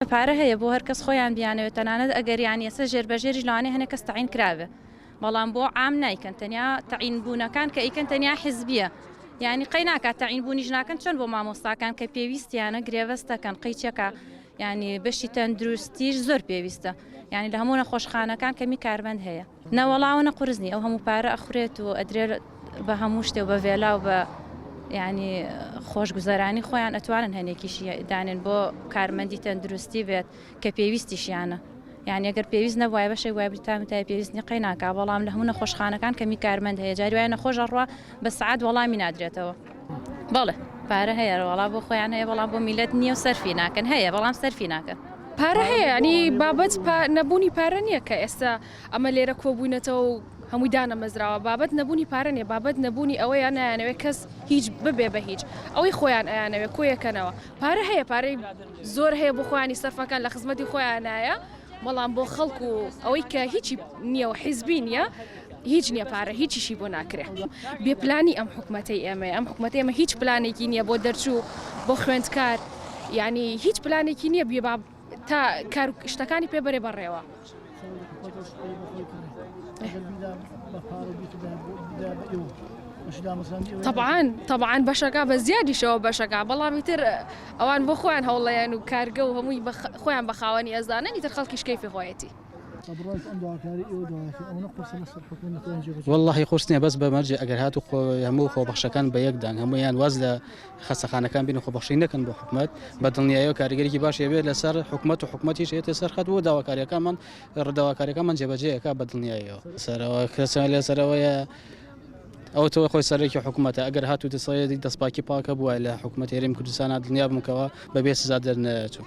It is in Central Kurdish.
پارە هەیە بۆ هەرکەس خۆیان بیانەوێت تەنانەت ئەگەر یان یەسە ژێر بەژێریش لەوانەیە هەنێ کەس تەعین کرابێ بەڵام بۆ عام نایکەن تەنیا تەعین بوونەکان کە ئەیکەن تەنیا حیزبیە یانی قەی ناکات تەعین بوونیش ناکەن چۆن بۆ مامۆستاکان کە پێویستیانە گرێبەستەکەن قەی چەکە یانی بەشی تەندروستیش زۆر پێویستە یانی لە هەموو نەخۆشخانەکان کەمی کارمەند هەیە. نە وەڵا ئەوەنە قورس نی ئەو هەموو پارە ئەخورێت و ئەدرێ بە هەموو شتێ و بە ڤێلا و بە یعنی خۆش گوزەرانی خۆیان ئەتوانن هەنێکیشی دانێن بۆ کارمەندی تەندروستی بێت کە پێویستیشیانە یعنی گەر پێویست نەبووای بەشێک وای بریتام تای پێویست نیقەی ناکا بەڵام لە هەموو نەخۆشخانەکان کەمی کارمەند هەیە جاری وایە نەخۆش ئەڕوا بە سعات وەڵامی نادرێتەوە بەڵێ پارە هەیە وەڵا بۆ خۆیان هەیە بەڵام بۆ میلەت نییە و سەرفی ناکەن هەیە بەڵام سەرفی ناکەن. پارە هەیە ینی بابەت نەبوونی پارە نییە کە ئێستا ئەمە لێرە کۆبووینەتەوە و هەمووی دانەمەزراوە بابەت نەبوونی پارە نیە بابەت نەبوونی ئەوەیە نایانەوێت کەس هیچ ببێ بە هیچ ئەوەی خۆیان ئەیانەوێت کۆیەکەنەوە پارە هەیە پارەی زۆر هەیە بۆ خۆیانی سەرفەکان لە خزمەتی خۆیانایە بەڵام بۆ خەڵکو ئەوەی کە هیچی نییە و حیزبی نییە هیچ نیە پارە هیچیشی بۆ ناکرێ بێ پلانی ئەم حکومەتەی ئێمەیە ئەم حکومەتە ئێمە هیچ پلانێکی نییە بۆ دەرچوو بۆ خوێندکار یعنی هیچ پلانێکی نییە بێ باب تا کار شتەکانی پێ بەرێ بەڕێوە. طبعاان طبعاان بەشەکە بە زیادیشەوە بەشەکە بەڵامی تر ئەوان بۆ خۆیان هەوڵەیەن و کارگە و هەمووی خۆیان بە خاوەنی ئەزانن ئیتر خەڵکیشکەی فخۆەتی. وەڵاهی قورس نیە بەس بە مەرجێ ئەگەر هات و خۆ هەموو خۆبەخشەکان بە یەکدان هەمویان واز لە خەسەخانەکان بین و خۆبەخشی نەکەن بۆ حکومت بە دڵنیایەوە کاریگەریی باش هەبێت لەسەر حکومت و حکومەتیش هێتە سەر خەت بۆ داواکاریەکانمان ڕداواکاریەکەمان جێبەجەیەکە بە دڵنیایەوە سەرەوە کەسیان لەسەرەوەیە ئەو تۆ خۆی سەرێکی حکوومەتە ئەگەر هات و دەسەیەدی دەستپاکی پاکە بووە لە حکوومەت هێرم کوردستانە دنیا بمکەوە بەبێ سزا دەرنەچوو.